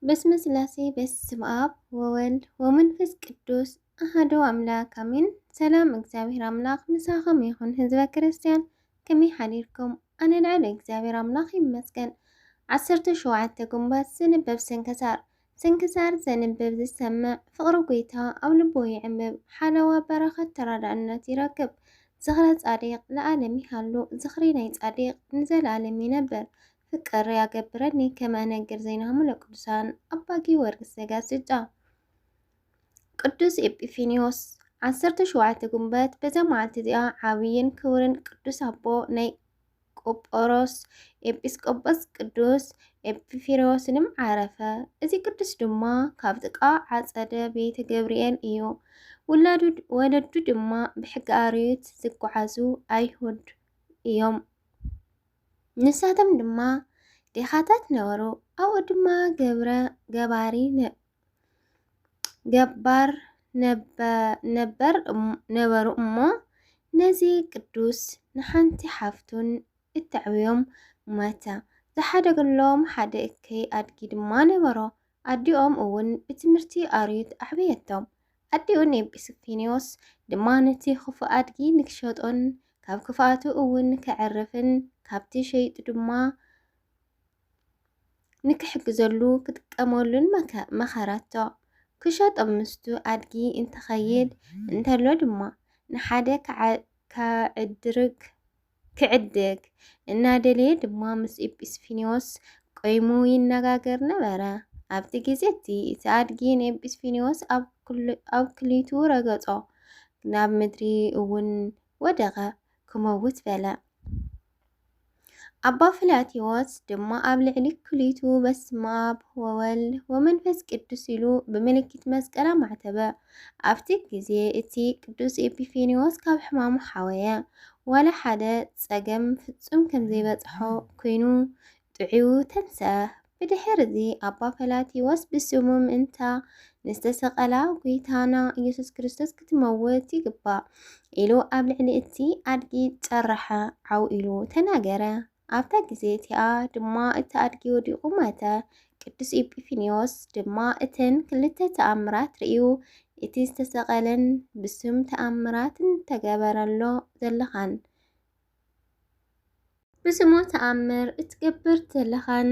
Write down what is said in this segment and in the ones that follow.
በስመ ስላሴ በስም ኣብ ወወልድ ወመንፈስ ቅዱስ ኣሃዶ ኣምላክ ኣሜን። ሰላም እግዚኣብሔር ኣምላክ ምሳኸም ይኹን ህዝበ ክርስቲያን ከመይ ሓዲርኩም? ኣነ ልዕል እግዚኣብሔር ኣምላክ ይመስገን። ዓሰርተ ሸውዓተ ግንቦት ዝንበብ ስንክሳር ስንክሳር ዘንብብ ዝሰምዕ ፍቅሪ ጎይታ ኣብ ልቦ ይዕምብ፣ ሓለዋ በረኸት ተራዳእነት ይረክብ። ዝኽረ ጻዲቅ ለዓለም ይሃሉ፣ ዝኽሪ ናይ ጻዲቅ ንዘለዓለም ይነብር። ፍቅር ያገብረኒ ከመ እነግር ዜናሆሙ ለቅዱሳን ኣባ ጊዮርጊስ ዘጋስጫ ቅዱስ ኤጲፊኒዮስ ዓሰርተ ሸውዓተ ግንቦት በዛ መዓልቲ እዚኣ ዓብይን ክብርን ቅዱስ ኣቦ ናይ ቆጶሮስ ኤጲስቆጶስ ቅዱስ ኤጲፊሮስንም ዓረፈ። እዚ ቅዱስ ድማ ካብ ጥቃ ዓፀደ ቤተ ገብርኤል እዩ። ውላዱ ወለዱ ድማ ብሕጊ ኣርዮት ዝጓዓዙ ኣይሁድ እዮም። ንሳቶም ድማ ዴኻታት ነበሩ፣ ኣብኡ ድማ ገብረ ገባሪ ገባር ነበር ነበሩ እሞ ነዚ ቅዱስ ንሓንቲ ሓፍቱን እተዕብዮም ማታ ዝሓደገሎም ሓደ እከይ ኣድጊ ድማ ነበሮ። ኣዲኦም እውን ብትምህርቲ ኣርዩት ኣዕበየቶም። ኣዲኡ ንኤጲስፍኒዮስ ድማ ነቲ ኽፉእ ኣድጊ ንኪሸጦን ካብ ክፍኣቱ እውን ኬዕርፍን ካብቲ ሸይጡ ድማ ንኪሕግዘሉ ኪጥቀመሉን መኸረቶ። ኪሸጦ ምስቱ ኣድጊ እንተኸይድ እንተሎ ድማ ንሓደ ኪዕድርግ ክዕድግ እናደለየ ድማ ምስ ኤጲስፊኒዎስ ቆይሙ ይነጋገር ነበረ። ኣብቲ ግዜ እቲ እቲ ኣድጊ ንኤጲስፊኒዎስ ኣብ ክሊቱ ረገጾ፣ ናብ ምድሪ እውን ወደቐ፣ ክመውት በለ። ኣባ ፍላቴዎስ ድማ ኣብ ልዕሊ ክሊቱ በስመ ኣብ ወወልድ ወመንፈስ ቅዱስ ኢሉ ብምልክት መስቀል ኣማዕተበ። ኣብቲ ግዜ እቲ ቅዱስ ኤጲፌንዮስ ካብ ሕማሙ ሓወየ። ዋላ ሓደ ጸገም ፍጹም ከም ዘይበጽሖ ኰይኑ ጥዑዩ ተንስኣ። ብድሕርዚ ኣባ ፈላቲዮስ ብስሙ ምእንታ ንዝተሰቐላ ጐይታና ኢየሱስ ክርስቶስ ክትመውት ይግባእ ኢሉ ኣብ ልዕሊ እቲ ኣድጊ ጸረሐ፣ ዓው ኢሉ ተናገረ። ኣብታ ግዜ እቲኣ ድማ እቲ ኣድጊ ወዲቑ ሞተ። ቅዱስ ኤጲፊንዮስ ድማ እተን ክልተ ተኣምራት ርእዩ እቲ ዝተሰቐለን ብስም ተኣምራት እንተገበረሎ ዘለኻን ብስሙ ተኣምር እትገብር ዘለኻን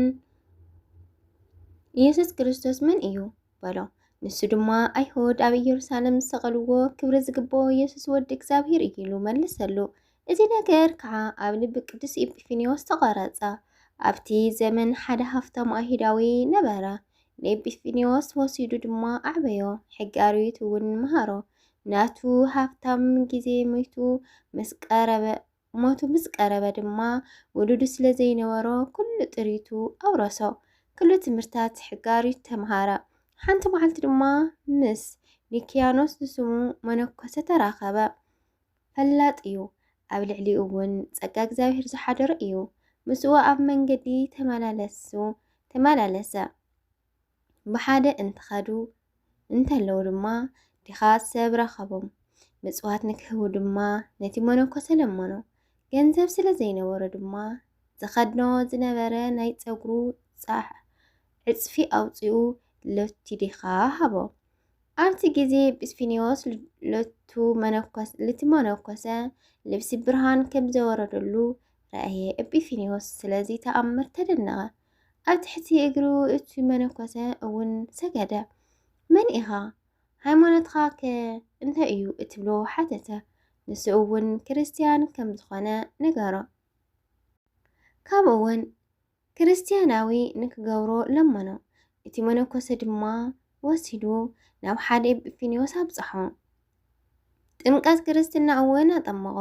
ኢየሱስ ክርስቶስ መን እዩ በሎ። ንሱ ድማ ኣይሁድ ኣብ ኢየሩሳሌም ዝሰቐልዎ ክብሪ ዝግብኦ ኢየሱስ ወዲ እግዚኣብሔር እዩ ኢሉ መለሰሉ። እዚ ነገር ከዓ ኣብ ልቢ ቅዱስ ኤጲፊኒዎስ ተቐረጸ። ኣብቲ ዘመን ሓደ ሃፍታም ኣይሁዳዊ ነበረ፣ ንኤጲፊኒዎስ ወሲዱ ድማ ኣዕበዮ፣ ሕጊ ኣርዩት እውን መሃሮ። ናቱ ሃብታም ግዜ ሞይቱ ምስ ቀረበ ሞቱ ምስ ቀረበ ድማ ውሉዱ ስለ ዘይነበሮ ኩሉ ጥሪቱ ኣውረሶ። ኩሉ ትምህርታት ሕጊ ኣርዩት ተምሃረ። ሓንቲ መዓልቲ ድማ ምስ ኒክያኖስ ዝስሙ መነኮሰ ተራኸበ። ፈላጥ እዩ፣ ኣብ ልዕሊኡ እውን ጸጋ እግዚኣብሔር ዝሓደሮ እዩ። ምስኡ ኣብ መንገዲ ተመላለሱ ተመላለሰ። ብሓደ እንትኸዱ እንተለዉ ድማ ድኻ ሰብ ረኸቦም። ምጽዋት ንክህቡ ድማ ነቲ መነኮሰ ለመኖ። ገንዘብ ስለ ዘይነበሮ ድማ ዝኸድኖ ዝነበረ ናይ ጸጉሩ ዕጽፊ ኣውጺኡ ለቲ ድኻ ሃቦ። ኣብቲ ግዜ ጲስፊንዮስ ለቱ መነኮስ ልቲ መነኮሰ ልብሲ ብርሃን ከም ዘወረደሉ ረኣየ። ኤጲፊንዮስ ስለዚ ተኣምር ተደነቐ። ኣብ ትሕቲ እግሩ እቲ መነኮሰ እውን ሰገደ። መን ኢኻ? ሃይማኖትካ ከ እንታይ እዩ? እትብሎ ሓተተ። ንሱ እውን ክርስትያን ከም ዝኾነ ነገሮ። ካብኡ እውን ክርስትያናዊ ንኪገብሮ ለመኖ፣ እቲ መነኮሰ ድማ ወሲዱ ናብ ሓደ ኤጲፊንዮስ ኣብጽሖ። ጥምቀት ክርስትና እውን ኣጠመቖ፣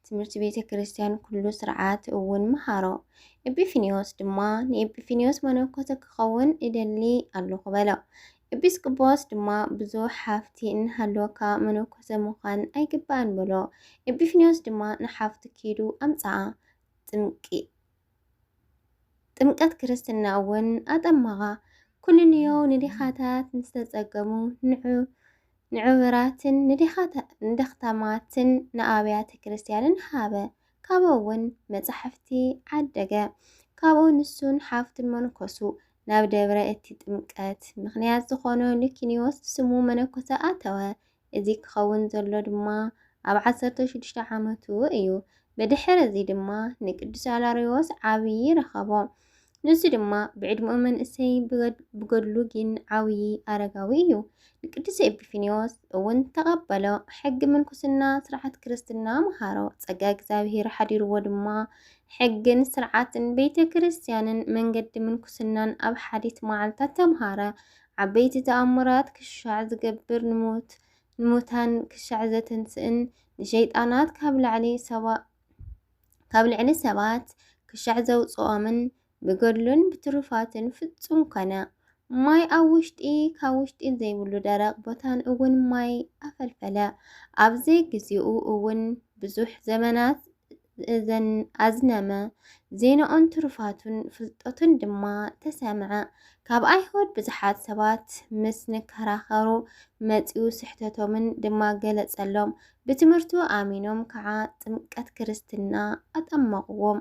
ትምህርቲ ቤተ ክርስትያን ኩሉ ሥርዓት እውን መሃሮ። ኤጲፊንዮስ ድማ ንኤጲፊንዮስ መነኮሰ ኪኸውን እደሊ ኣሎኹ በሎ። ኤጲስቆጶስ ድማ ብዙሕ ሃፍቲ እናሃለወካ መነኮሰ ምዃን ኣይግባእን በሎ። ኤጲፊንዮስ ድማ ንሓፍቱ ኪዱ ኣምጽኣ። ጥምቂ። ጥምቀት ክርስትና እውን ኣጠመቓ። ኩንንዮ ንዲኻታት ንዝተጸገሙ ንዑ ንዕውራትን ንደኽታማትን ንኣብያተ ክርስቲያንን ሃበ። ካብኡ እውን መጻሕፍቲ ዓደገ። ካብኡ ንሱን ሓፍቱን መንኮሱ። ናብ ደብረ እቲ ጥምቀት ምክንያት ዝኾኖ ሊኪንዮስ ስሙ መነኮሰ ኣተወ። እዚ ክኸውን ዘሎ ድማ ኣብ ዓሰርተ ሽዱሽተ ዓመቱ እዩ። ብድሕሪ እዚ ድማ ንቅዱስ ኣላርዮስ ዓብዪ ረኸቦ። ንሱ ድማ ብዕድመኡ መንእሰይ ብገድሉ ግን ዓብዪ ኣረጋዊ እዩ። ንቅዱስ ኤጲፊንዮስ እውን ተቐበሎ፣ ሕጊ ምንኩስና ስርዓት ክርስትና መሃሮ። ጸጋ እግዚኣብሔር ሓዲርዎ ድማ ሕግን ስርዓትን ቤተ ክርስቲያንን መንገዲ ምንኩስናን ኣብ ሓዲት መዓልታት ተምሃረ። ዓበይቲ ተኣምራት ክሻዕ ዝገብር ንሙት ንሙታን ክሻዕ ዘትንስእን ንሸይጣናት ካብ ላዕሊ ሰባ ካብ ልዕሊ ሰባት ክሻዕ ዘውጽኦምን ብገድሉን ብትሩፋቱን ፍጹም ኮነ። ማይ ኣብ ውሽጢ ካብ ውሽጢ ዘይብሉ ደረቕ ቦታን እውን ማይ ኣፈልፈለ። ኣብ ዘይግዜኡ እውን ብዙሕ ዘመናት እዘን ኣዝነመ። ዜናኡን ትሩፋቱን ፍልጠቱን ድማ ተሰምዐ። ካብ ኣይሁድ ብዙሓት ሰባት ምስ ንከራኸሩ መጺኡ ስሕተቶምን ድማ ገለጸሎም። ብትምህርቱ ኣሚኖም ከዓ ጥምቀት ክርስትና ኣጠመቕዎም።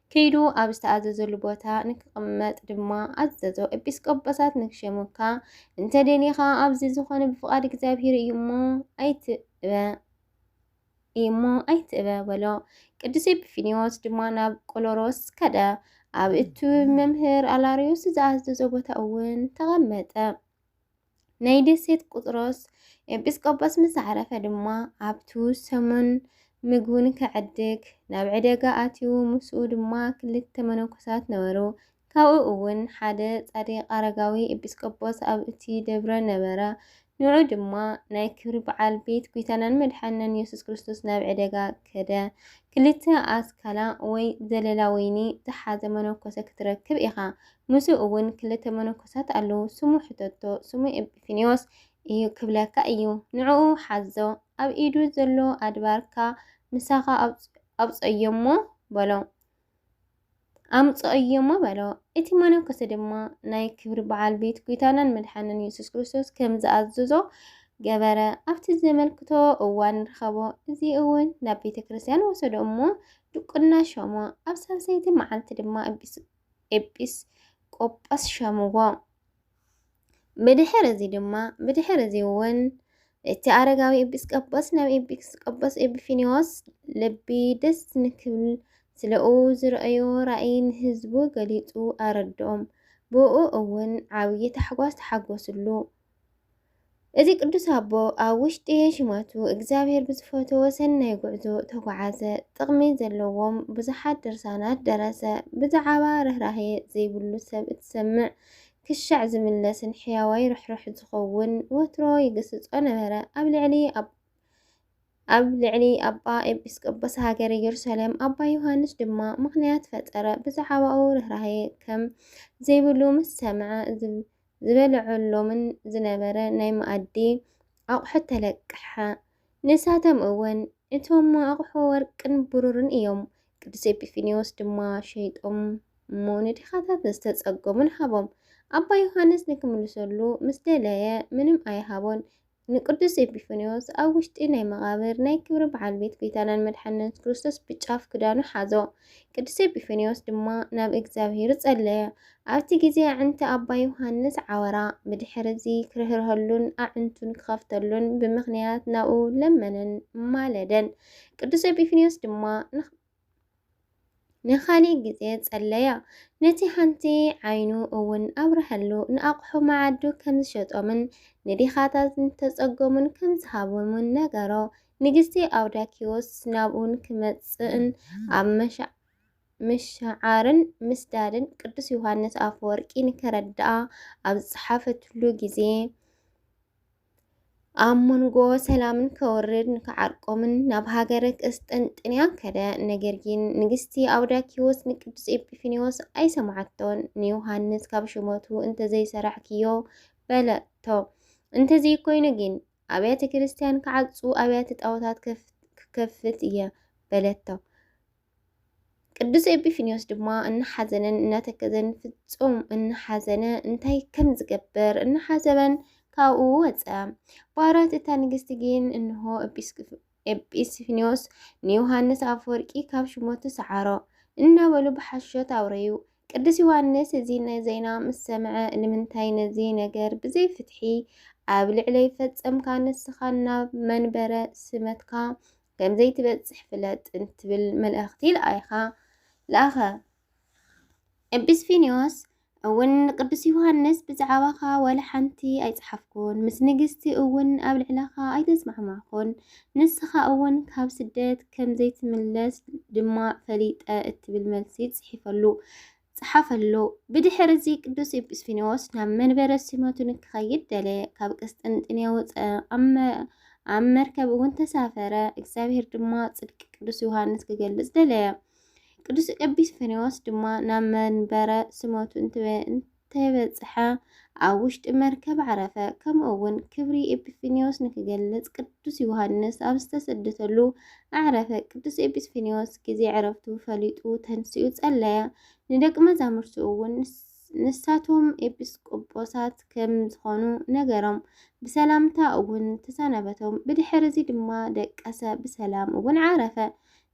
ከይዱ ኣብ ዝተኣዘዘሉ ቦታ ንክቕመጥ ድማ ኣዘዞ። ኤጲስቆጶሳት ንክሸሙካ እንተ ደሊኻ ኣብዚ ዝኾነ ብፍቓድ እግዚኣብሔር እዩ እሞ ኣይትእበ እዩ እሞ ኣይትእበ በሎ። ቅዱስ ኤጲፊኒዎስ ድማ ናብ ቆሎሮስ ከደ። ኣብ እቱ መምህር ኣላሪዮስ ዝኣዘዞ ቦታ እውን ተቐመጠ። ናይ ደሴት ቁጥሮስ ኤጲስቆጶስ ምስ ዓረፈ ድማ ኣብቱ ሰሙን ምግቡን ከዕድግ ናብ ዕደጋ ኣትዩ ምስኡ ድማ ክልተ መነኮሳት ነበሩ። ካብኡ እውን ሓደ ጻድቅ ኣረጋዊ ኤጲስቆጶስ ኣብ እቲ ደብረ ነበረ። ንዑ ድማ ናይ ክብሪ በዓል ቤት ጒይታናን መድሓንናን ኢየሱስ ክርስቶስ ናብ ዕደጋ ከደ። ክልተ ኣስካላ ወይ ዘለላ ወይኒ ዝሓዘ መነኮሰ ክትረክብ ኢኻ። ምስኡ እውን ክልተ መነኮሳት ኣለዉ፣ ስሙ ሕተቶ፣ ስሙ ኤጲፊንዮስ እዩ ክብለካ እዩ፣ ንዕኡ ሓዞ፣ ኣብ ኢዱ ዘሎ ኣድባርካ ምሳኻ ኣውጽኦዮሞ በሎ። ኣምጽኦዮሞ በሎ። እቲ መነኮሰ ድማ ናይ ክብሪ በዓል ቤት ጐይታናን መድሓንን የሱስ ክርስቶስ ከም ዝኣዘዞ ገበረ። ኣብቲ ዘመልክቶ እዋን ረኸቦ። እዚ እውን ናብ ቤተ ክርስቲያን ወሰዶ እሞ ድቁና ሾሞ። ኣብ ሳልሰይቲ መዓልቲ ድማ ኤጲስ ቆጶስ ሸምዎ። ብድሕር እዚ ድማ ብድሕር እዚ እውን እቲ ኣረጋዊ ኤጲስ ቆጶስ ናብ ኤጲስ ቆጶስ ኤጲፊኒዎስ ልቢ ደስ ንክብል ስለኡ ዝረኣዮ ራእይ ንህዝቡ ገሊጹ ኣረድኦም። ብኡ እውን ዓብዪ ታሕጓስ ተሓጎስሉ። እዚ ቅዱስ ኣቦ ኣብ ውሽጢ ሽመቱ እግዚኣብሔር ብዝፈተዎ ሰናይ ጉዕዞ ተጓዓዘ። ጥቕሚ ዘለዎም ብዙሓት ድርሳናት ደረሰ። ብዛዕባ ርኅራኄ ዘይብሉ ሰብ እትሰምዕ ክሻዕ ዝምለስን ሕያዋይ ርኅሩኅ ዝኸውን ወትሮ ይግስጾ ነበረ። ኣብ ልዕሊ ኣብ ልዕሊ ኣባ ኤጲስቆጶስ ሃገረ ኢየሩሳሌም ኣባ ዮሐንስ ድማ ምኽንያት ፈጠረ። ብዛዕባኡ ርኅራኄ ከም ዘይብሉ ምስ ሰምዐ ዝበልዐሎምን ዝነበረ ናይ መኣዲ ኣቑሑት ተለቀሐ። ንሳቶም እውን እቶም ኣቑሑ ወርቅን ብሩርን እዮም። ቅዱስ ኤጲፊንዮስ ድማ ሸይጦም እሞ ንድኻታት ዝተጸገሙን ሃቦም። ኣባ ዮሓንስ ንክምልሰሉ ምስ ደለየ ምንም ኣይሃቦን፣ ንቅዱስ ኤጲፋንዮስ ኣብ ውሽጢ ናይ መቓብር ናይ ክብሪ በዓል ቤት ጐይታናን መድሓኒና የሱስ ክርስቶስ ብጫፍ ክዳኑ ሓዞ። ቅዱስ ኤጲፋንዮስ ድማ ናብ እግዚኣብሔር ጸለየ። ኣብቲ ጊዜ ኣዕንቲ ኣባ ዮሓንስ ዓወራ። ብድሕርዚ ክርህርሀሉን ኣዕንቱን ክኸፍተሉን ብምኽንያት ናብኡ ለመነን ማለደን። ቅዱስ ኤጲፋንዮስ ድማ ንኻሊእ ግዜ ጸለያ። ነቲ ሓንቲ ዓይኑ እውን ኣብረሀሉ፣ ንኣቕሑ መዓዱ ከም ዝሸጦምን ንዲኻታት ንተጸገሙን ከም ዝሃቦምን ነገሮ። ንግስቲ ኣውዳኪዎስ ናብኡን ክመጽእን ኣብ መሻ ምሽዓርን ምስዳድን ቅዱስ ዮሃንስ ኣፈወርቂ ንከረድኣ ኣብ ዝጸሓፈትሉ ግዜ ኣብ መንጎ ሰላምን ከወርድ ንክዓርቆምን ናብ ሃገረ ቅስጥንጥንያ ከደ። ነገር ግን ንግስቲ ኣውዳኪዎስ ንቅዱስ ኤጲፊኒዎስ ኣይሰማዓቶን። ንዮሃንስ ካብ ሽመቱ እንተዘይሰራሕክዮ በለቶ። እንተዘይኮይኑ ግን ኣብያተ ክርስቲያን ክዓጹ ኣብያተ ጣዖታት ክከፍት እየ በለቶ። ቅዱስ ኤጲፊኒዮስ ድማ እናሓዘነን እናተከዘን ፍጹም እናሓዘነ እንታይ ከም ዝገብር እናሓሰበን ካብኡ ወፀ። ባራት እታ ንግስቲ ግን እንሆ ኤጲስፊኒዮስ ንዮሃንስ ኣፈወርቂ ካብ ሽሞቱ ሰዓሮ እናበሉ ብሓሾት ኣውረዩ። ቅዱስ ዮሃንስ እዚ ዜና ምስ ሰምዐ ንምንታይ ነዚ ነገር ብዘይ ፍትሒ ኣብ ልዕለይ ፈጸምካ ንስኻ ናብ መንበረ ስመትካ ከም ዘይትበጽሕ ፍለጥ እንትብል መልእኽቲ ለኣይኻ ለኣኸ። ኤጲስፊንዮስ እውን ንቅዱስ ዮሃንስ ብዛዕባኻ ወላ ሓንቲ ኣይጸሓፍኩን፣ ምስ ንግስቲ እውን ኣብ ልዕለኻ ኣይተስማዕማዕኩን፣ ንስኻ እውን ካብ ስደት ከም ዘይትምለስ ድማ ፈሊጠ እትብል መልሲ ጽሒፈሉ። ጸሓፈሉ። ብድሕሪ እዚ ቅዱስ ኤጲስፊኒዎስ ናብ መንበረ ሲመቱ ንክኸይድ ደለየ። ካብ ቅስጥንጥንየ ወፀ፣ ኣብ መርከብ እውን ተሳፈረ። እግዚኣብሔር ድማ ጽድቂ ቅዱስ ዮሃንስ ክገልጽ ደለየ። ቅዱስ ኤጲስፊኒዎስ ድማ ናብ መንበረ ሲመቱ እንተበጽሐ ኣብ ውሽጢ መርከብ ዓረፈ። ከምኡ እውን ክብሪ ኤጲፊኒዎስ ንክገልጽ ቅዱስ ዮሃንስ ኣብ ዝተሰደተሉ ኣዕረፈ። ቅዱስ ኤጲስፊኒዎስ ግዜ ዕረፍቱ ፈሊጡ ተንሲኡ ጸለየ። ንደቂ መዛሙርቱ እውን ንሳቶም ኤጲስቆጶሳት ከም ዝኾኑ ነገሮም። ብሰላምታ እውን ተሰናበቶም። ብድሕር እዚ ድማ ደቀሰ፣ ብሰላም እውን ዓረፈ።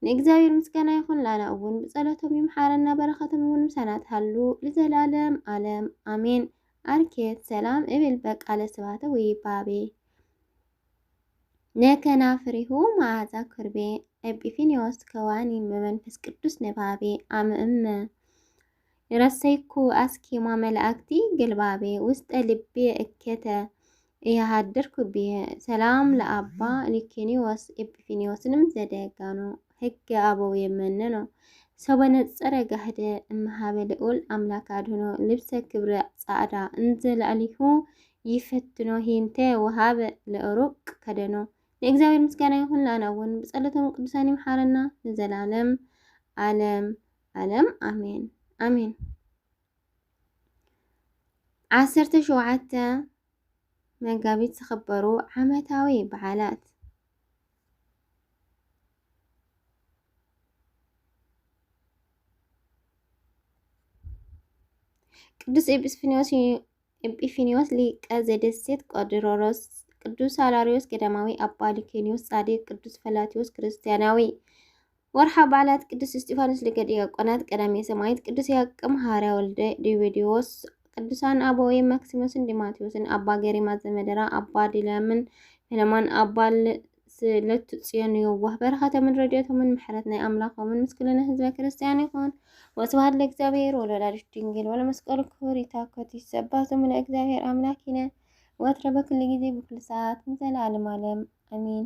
ንእግዚኣብሔር ምስጋና ይኹን ላና እውን ብጸሎቶም ይምሓረና በረኸቶም እውን ምሳና ትሃሉ ልዘላለም ኣለም ኣሜን። ኣርኬት ሰላም እብል በቃለ ስባተ ወይባቤ ነከናፍሪሁ መዓዛ ኩርቤ ኤጲፊኒዎስ ከዋኒ መመንፈስ ቅዱስ ነባቤ ኣምእመ ረሰይኩ ኣስኬማ መላእክቲ ግልባቤ ውስጠ ልቤ እኬተ እያሃድርኩ ብየ ሰላም ለኣባ ሊኪኒዎስ ኤጲፊኒዎስንም ዘደጋኖ ህገ ኣበው የመነኖ ሰበነጸረ ጋህደ እምሃበ ልዑል ኣምላክ ኣድህኖ ልብሰ ክብረ ጻዕዳ እንዘ ላዕሊሁ ይፈትኖ ሂንተ ወሃበ ለሩቅ ከደኖ። ንእግዚኣብሔር ምስጋና ይኹን፣ ንኣና እውን ብጸሎቶም ቅዱሳን ይምሓረና ንዘላለም ዓለም ዓለም ኣሜን ኣሜን ዓሰርተ ሸውዓተ መጋቢት ዝኽበሩ ዓመታዊ በዓላት ቅዱስ ኤጲስፊኒዎስ ኤጲፊኒዎስ ሊቀ ዘደሴት ቆድሮሮስ፣ ቅዱስ ሳላሪዎስ ገዳማዊ፣ ኣባ ሊኬኒዎስ ጻድቅ፣ ቅዱስ ፈላቲዎስ ክርስቲያናዊ ወርሓዊ በዓላት ቅዱስ እስጢፋኖስ ሊቀ ዲያቆናት፣ ቀዳሜ ሰማዕት ቅዱስ ያዕቆብ ሐዋርያ ወልደ ዲዮድዮስ፣ ቅዱሳን ኣበዊ ማክሲሞስን ዲማቴዎስን፣ ኣባ ገሪማ ዘመደራ፣ ኣባ ዲላምን ሄለማን፣ ኣባ ስለቱ ጽዮን የዋህ በረኸቶምን ረድኤቶምን ምሕረት ናይ ኣምላኾምን ምስ ኩልነ ህዝበ ክርስቲያን ይኹን። ወስብሐት ለእግዚኣብሔር ወለወላዲቱ ድንግል ወለመስቀሉ ክቡር። ይታኮት ይሰባህ ስሙ ለእግዚኣብሔር አምላኪነ ወትረ በኩሉ ጊዜ በኩሉ ሰዓት ንዘለዓለም ዓለም አሜን።